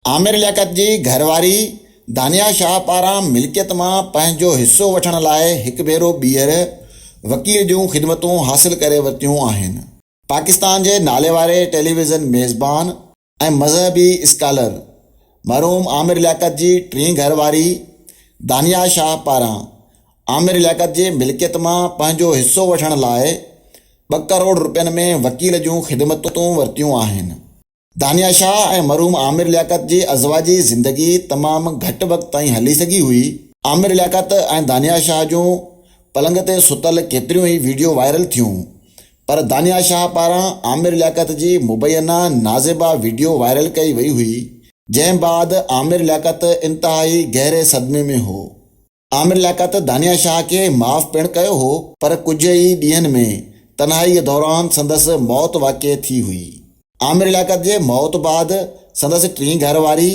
عامر لياقت جي گهر واري دانيا شاهه پاران ملڪيت مان پنهنجو حصو وٺڻ لاء هڪ ڀيرو ٻيهر وڪيل جون خدمتون حاصل ڪري ورتيون آهن. پاڪستان جي ناليواري ٽيليويزن ميزبان ۽ مذهبي اسڪالر مرحوم عامر لياقت جي ٽين گهر واري دانيا شاهه پاران عامر لياقت جي ملڪيت مان پنهنجو حصو وٺڻ لاء ٻه ڪروڙ رپين ۾ وڪيل جون خدمتون ورتيون آهن. دانيا شاهه ۽ مرحوم عامر لياقت جي ازواجي زندگي تمام گهٽ وقت تائين هلي سگهي هئي. عامر لياقت ۽ دانيا شاهه جون پلنگ تي ستل ڪيتريون ئي ويڊيو وائرل ٿيون پر دانيا شاهه پاران عامر لياقت جي مبينا نازيبا ويڊيو وائرل ڪئي وئي هئي جنهن بعد عامر لياقت انتهائي گهري صدمي ۾ هو. عامر لياقت دانيا شاهه کي معاف پڻ ڪيو هو پر ڪجهه ئي ڏينهن ۾ تنهائيء دوران سندس موت واقع ٿي هئي. عامر لياقت جي موت بعد سندس ٽين گهر واري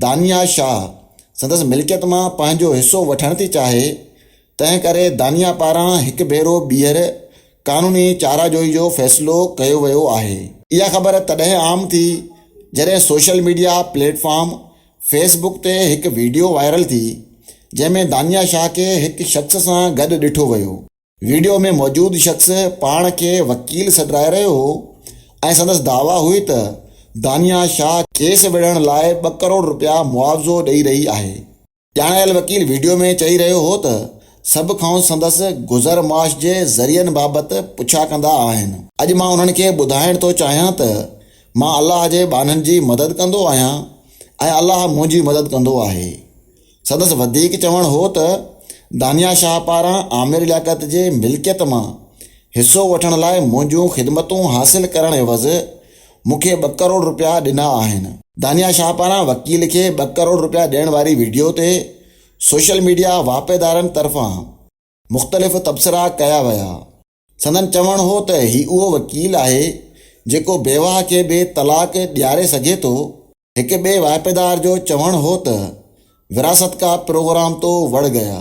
دانيا شاهه سندس ملڪيت مان پنهنجو حصو وٺڻ ٿي چاهي، تنهن ڪري دانيا پاران هڪ ڀيرو ٻيهر قانوني چاراجوئي جو فيصلو ڪيو ويو آهي. اها خبر تڏهن عام ٿي جڏهن social media platform Facebook تي هڪ وڊيو وائرل ٿي جنهن ۾ دانيا شاهه کي هڪ شخص سان گڏ ڏٺو ويو. وڊيو ۾ موجود شخص پاڻ کي وڪيل سڏرائي رهيو هو ۽ سندس دعويٰ هئي ته دانيا شاهه ڪيس وڙهڻ لاء ٻه ڪروڙ رپيا معاوضو ڏئي رهي آهي. ڄاڻايل وڪيل وڊيو ۾ چئي رهيو هو ته سڀ کانئس سندس گذر معاش جي ذريعن بابت پڇا ڪندا آهن. اڄ مان انهن کي ٻڌائڻ ٿو چاهيان ته مان الله جي ٻانهن جي مدد ڪندو آهيان ۽ الله منهنجي مدد ڪندو آهي. سندس وڌيڪ چوڻ هو ته دانيا شاهه پاران عامر لياقت جي ملڪيت مان حصو وٺڻ لاء منهنجون خدمتون حاصل ڪرڻ عيوض مون کي ٻه ڪروڙ رپيا ڏنا آهن. دانيا شاهه پاران وڪيل کي ٻه ڪروڙ رپيا ڏيڻ واري وڊيو تي سوشل ميڊيا واهپيدارن طرفان مختلف تبصرا ڪيا ويا. سندن چوڻ هو ته هي اهو وڪيل آهي جيڪو بيواهه کي به طلاق ڏياري سگهي ٿو. هڪ ٻئي واهپيدار جو چوڻ هو ته وراثت ڪا پروگرام تو وڙ گيا.